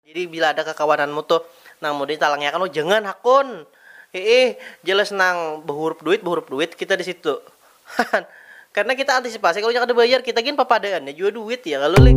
Jadi bila ada kakawananmu tuh nang mau ditalangiakan oh jangan hakun iih jelas nang bahurup duit bahurup duit kita di situ hahan karena kita antisipasi kalunya kada bayar kita gin papadaannya jua duit ya kalu lih.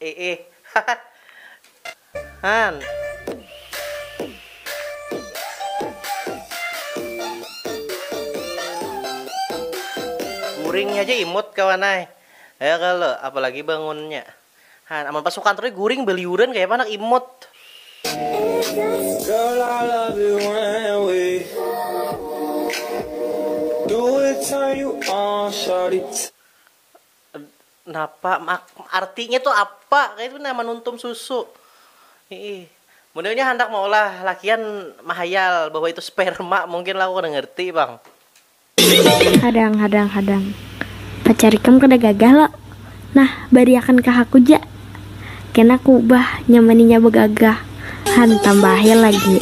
Iih hahaha han. Guring haja imut kawan ai. Ya kalo, apalagi bangunnya. Han, amun pas sukantur ni guring baliuran kayapa handak imut. Girl I love it when we do it turn you on shawty. Napa mak artinya tu apa kaitu nah manuntum susu. Hiih. Mun inya handak maulah lakian mahayal bahwa itu sperma mungkin lah aku kada ngerti pang. Hadang hadang hadang. Pacar ikam kada gagah lo. Nah, bariakan ka haku ja. Kena ku ubah nyaman inya bagagah. Han, tambahi lagi.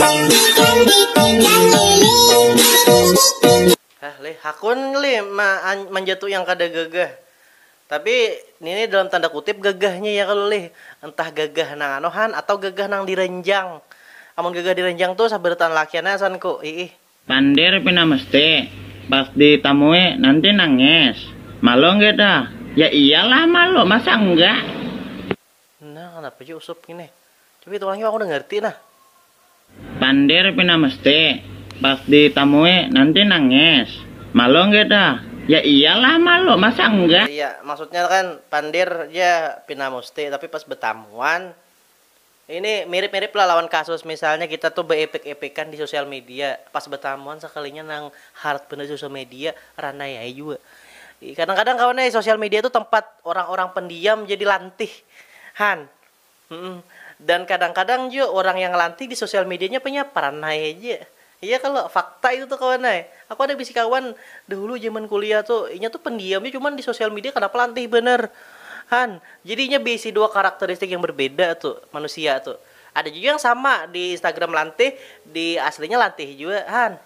Hah lih, hakun lih ma an manja tu yang kada gagah. Tapi nini dalam tanda kutip gagahnya ya kalo lih, entah gagah nang anu han atau gagah nang diranjang. Amun gagah diranjang tu sabarataan lakian ai asan ku, iih. Pandir pina mesti, pas di tamui nanti nangis. Malu nggih dah? Ya iyalah malu, masa enggak. Nah, kanapa ja Usup ngini. Coba kita ulangi, aku udah ngarti nah. Pandir pina mesti, pas di tamui nanti nangis. Malu enggak dah? Ya iya lah malu, masa enggak. Oh iya, maksudnya kan pandir ja pina musti, tapi pas betamuan, ini mirip mirip lah lawan kasus misalnya kita tuh beepek epekan di sosial media, pas betamuan sekalinya nang hard banar di sosial media, ranai ai jua. Kadang-kadang kawan ai sosial media tu tempat orang-orang pendiam jadi lantih han. Dan kadang-kadang jua orang yang lantih di sosial medianya panya paranai haja. Iya kalo? Fakta itu tu kawan ai. Aku ada bisi kawan dahulu jaman kuliah tu, inya tu pendiam ja cuman di sosial media kadapa lantih banar han. Jadi inya beisi dua karakteristik yang berbeda tu manusia tu. Ada jua yang sama di Instagram lantih, di aslinya lantih jua han.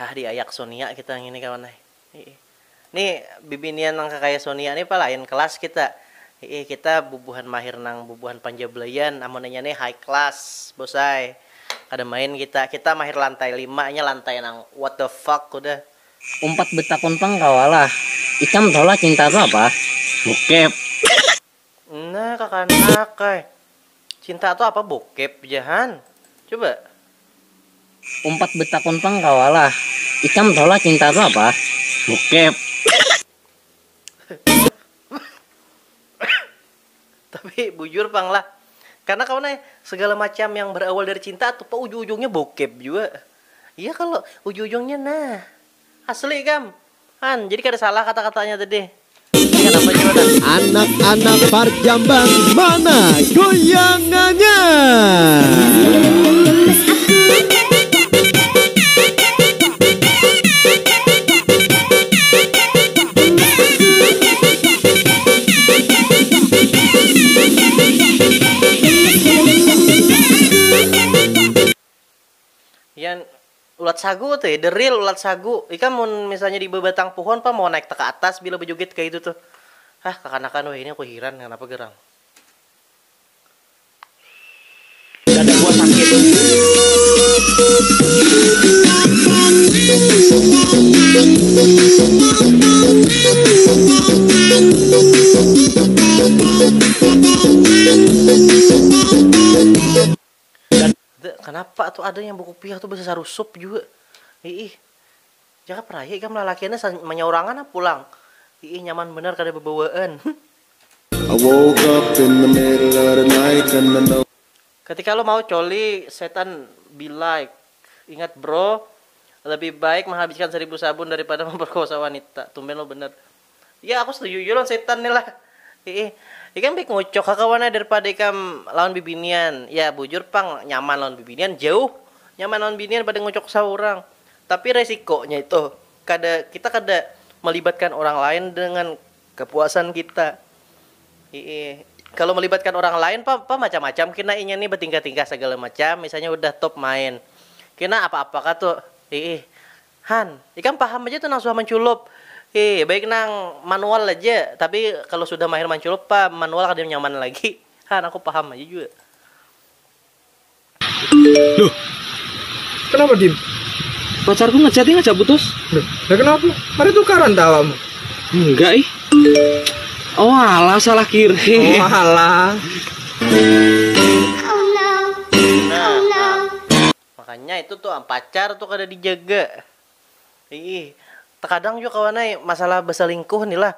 Hah diayak Sonia kita ngini kawan ai. Hiih. Ni bibinian nang kakaya Sonia ni pa lain kelas kita. Hiih kita bubuhan mahir nang bubuhan panjablayan amun inya ni high class bos ai. Kada main kita. Kita mahir lantai lima inya lantai nang what the fuck udah. Umpat betakun pang kawa lah. Ikam tahu lah cinta tu apa? Bokep. Nah kakanak ai. Cinta tu apa bokep ja han. Coba. Umpat betakun pang kawa lah. Ikam tahu lah cinta tu apa? Bokep. Tapi bujur pang lah. Karena kawan ai, segala macam yang berawal dari cinta atupa ujung-ujungnya bokep jua. Iya kalo, ujung-ujungnya nah. Asli ikam. Han, jadi kada salah kata-katanya tadi. Intinya kanapa jua nah. Anak-anak Parjambang mana goyangannya. Yan ulat sagu tuh ya, the real ulat sagu. Ikam mun misalnya di babatang puhon pang mau naik te ka atas bila bajugit kaya itu tuh. Hah kakanakan weh, ini aku hiran kanapa gerang. Dada gua sakit. Kenapa tuh ada yang buku pihak tuh bisa sarusup juga? Ih, jangan pernah ya ikam lalakiannya manyaurangan pulang. Ih, nyaman benar kada bebawaan. Ketika lo mau coli setan be like ingat bro lebih baik menghabiskan seribu sabun daripada memperkosa wanita tumben lo bener ya aku setuju jua lawan setan nih lah iih ikam baik ngucok ha kawan ai daripada ikam lawan bibinian ya bujur pang nyaman lawan bibinian jauh nyaman lawan binian pada ngucok saurang tapi resikonya itu kada kita kada melibatkan orang lain dengan Kapuasan kita. Ii. Kalo melibatkan urang lain pa, pa macam-macam kina inya ni batingkah-tingkah sagala macam, misalnya hudah top main. Kina apa-apa ka tu. Ii. Han, ikam paham aja tu nang suah manculup. Ii. Baik nang manual aja, tapi kalo sudah mahir manculup pa manual kada nyaman lagi. Han, aku paham aja jua. Loh, kenapa Din? Pacarku ngechatnya ngajak putus. Loh, ya kenapa? Ada tukaran tak awakmu? Enggak ih. Oh alah, salah kirim. Oh alah. Makanya itu tuh pacar tuh kada dijaga. Ih, terkadang juga kawan ai masalah beselingkuh nih lah.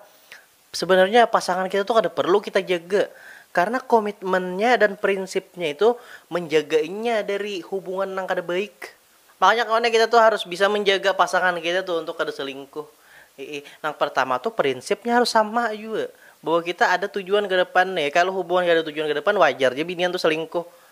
Sebenarnya pasangan kita tuh kada perlu kita jaga karena komitmennya dan prinsipnya itu menjaga inya dari hubungan nang kada baik. Makanya kawan kita tuh harus bisa menjaga pasangan kita tuh untuk kada selingkuh. Iih, nang pertama tuh prinsipnya harus sama jua bahwa kita ada tujuan ke depan nih. Kalau hubungan kada ada tujuan ke depan wajar ja binian tuh selingkuh.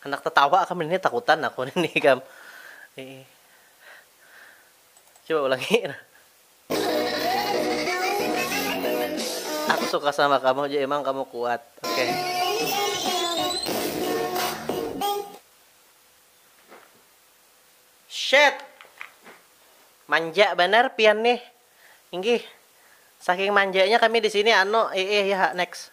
Handak tatawa kam ini takutan aku ini kam. Coba ulangi. Aku suka sama kamu aja emang kamu kuat. Oke. Okay. Shit. Manja benar pian nih. Inggih. Saking manjanya kami di sini anu eh eh ya next.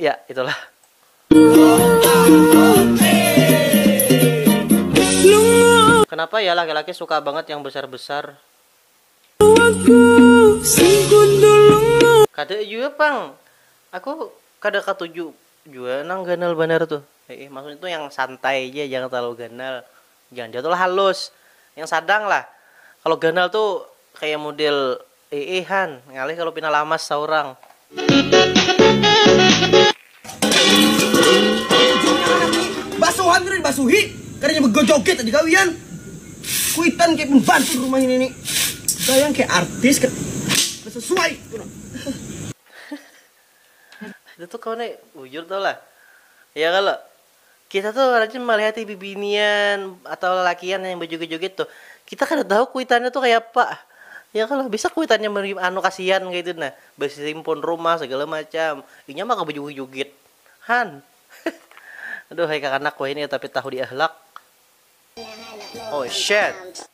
ya itulah kenapa ya laki-laki suka banget yang besar-besar kata juga pang aku kada katuju juga nang ganal banar tuh eh, maksudnya tuh yang santai aja jangan terlalu ganal jangan jatuh halus yang sadang lah kalau ganal tuh kayak model Iih han, ngalih kalu pina lamas saurang. Basuhan kada dibasuhi, kadanya begojoget tadi gawian. Kuitan kaya pembantu di rumah ini nih. Gayang kaya artis kada sesuai. Itu tuh kawan ai bujur tahu lah. Iya kalo? Kita tuh rajin malihati bibinian atau lalakian yang berjoget-joget tuh. Kita kada tahu kuitannya tuh kaya apa. Ya kalo bisa kuitannya anu kasian kaitu nah. Bersimpun rumah segala macam. Inya maka berjoget-joget. Han. Aduhai kakanak wahini tapi tahu diahlak. Oh shit.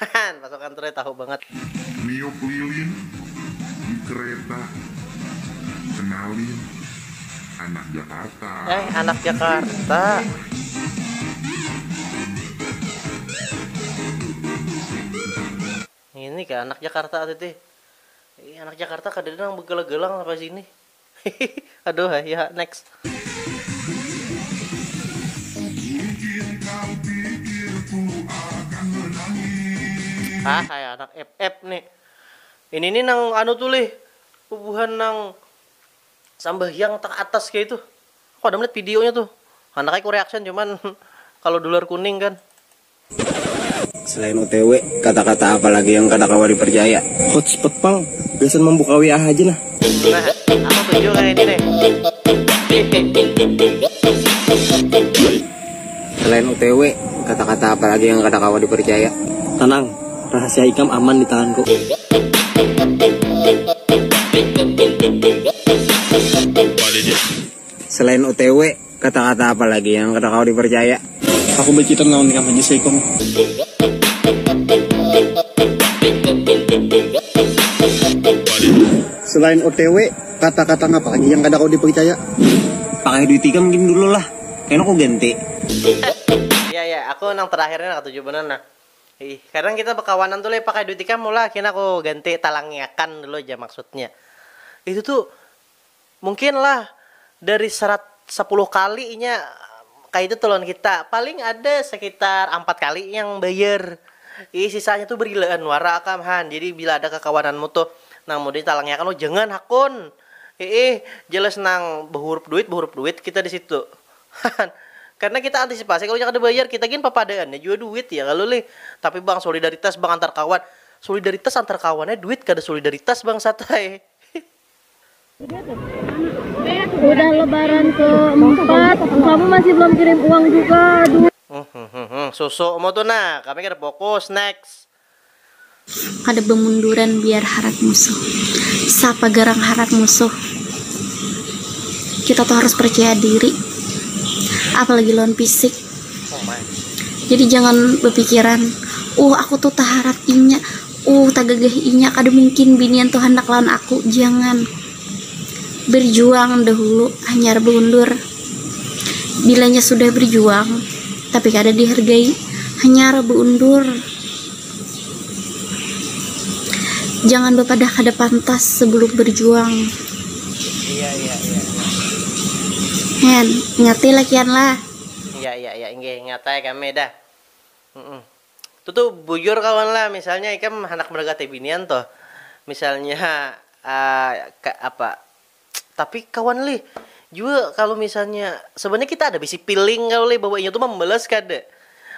Hahan, pasukan Troy tahu bangat. Niup lilin di kereta, kenalin anak Jakarta. Eh, anak Jakarta. Ngini kah anak Jakarta tadi. Anak Jakarta kadada nang begelang-gelang sampai sini. Hihihi aduh ai ya ha next. Hah kaya anak ep ep nih. Ini nih nang anu tuh lih bubuhan nang sambahyang tang atas kaya itu. Aku kada melihat videonya tuh. Handak ai ku reaction cuman kalo dolar kuning kan. Selain otw, kata-kata apa lagi yang kada kawa dipercaya? Hotspot pang, gasan mambuka WA haja nah. Nah, aku tuju nang ini nih. Selain otw, kata-kata apa lagi yang kada kawa dipercaya? Tanang, rahasia ikam aman di tanganku. Selain OTW, kata-kata apa lagi yang kada kawa dipercaya? Aku bacitan lawan ikam haja seikung. Selain OTW, kata-kata napa lagi yang kada kawa dipercaya? Pakai duit ikam gin dulu lah, kena ku ganti. Ya, ya, aku nang terakhir ni nang katuju banar nah. Hih, kadang kita bakawanan tu leh pakai duit ikam ulah, kena ku ganti, talangiakan dulu ja maksudnya. Itu tu. Mungkin lah dari serat sapuluh kali inya kaya itu tuh lawan kita, paling ada sekitar ampat kali yang bayar. Jadi sisanya tuh berilaan wara akam han. Jadi bila ada kakawananmu tuh nang mau ditalangi akan, oh jangan hakun. Hiih, jelas nang bahurup duit, bahurup duit kita di situ. Han. Karena kita antisipasi kalu inya kada bayar, kita gin papadaannya jua duit ya kalu lih. Tapi bang, solidaritas bang antar kawan. Solidaritas antar kawan ai duit kada solidaritas bangsat ai. Udah lebaran keempat, kamu masih belum kirim uang juga. Aduh. Hmm, hmm, hmm, hmm. Susu mau tuh nah, kami kada fokus. Next. Kada bemunduran biar harat musuh. Sapa garang harat musuh. Kita tuh harus percaya diri. Apalagi lawan fisik. Oh my. Jadi jangan bepikiran, uh aku tuh taharat inya. Uh, tagagah inya, kada mungkin binian tu handak lawan aku, jangan. Berjuang dahulu, hanyar baundur. Bilanya sudah berjuang, tapi kada dihargai, hanyar baundur. Jangan bapadah kada pantas sebelum berjuang. Hen, ingati lakian lah. Iya, iya, iya, inggih ingat ai kami dah. Mm-mm. Tutu bujur kawan lah misalnya ikam handak mendekati binian tuh misalnya apa tapi kawan lih jua kalu misalnya sebenarnya kita ada bisi piling kalu lih bahwa inya tuh membalas kada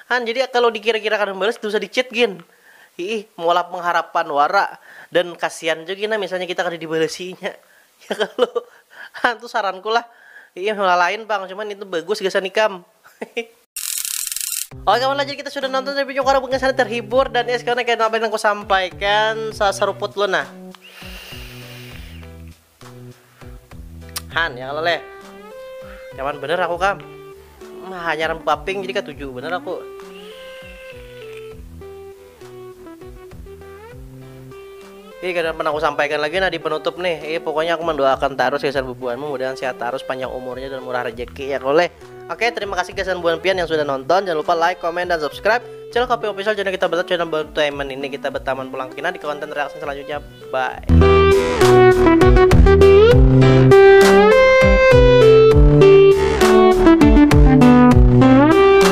han jadi kalu dikira-kira kada membalas dosa di chat gin hiih maulah pengharapan wara dan kasian jua gin misalnya kita kada dibalasi inya ya kalo ha tu saranku lah hiih lalain pang cuman itu bagus gasan ikam. Oke kawan jadi kita sudah nonton tapi nyokara bukan sana terhibur dan ya sekarang kayak apa yang aku sampaikan seruput lo nah Han ya kalau leh nyaman bener aku kam nah, hanya rambut paping jadi ketujuh bener aku Ih, kada pernah aku sampaikan lagi nah di penutup nih. Ih, pokoknya aku mendoakan tarus gasan bubuhanmu mudahan sehat tarus, panjang umurnya dan murah rejeki ya koleh. Oke, terima kasih gasan buhan pian yang sudah nonton. Jangan lupa like, comment, dan subscribe channel Kopi Official, channel kita bertaman, channel bertaman ini kita bertaman pulang kina di konten reaksi selanjutnya. Bye.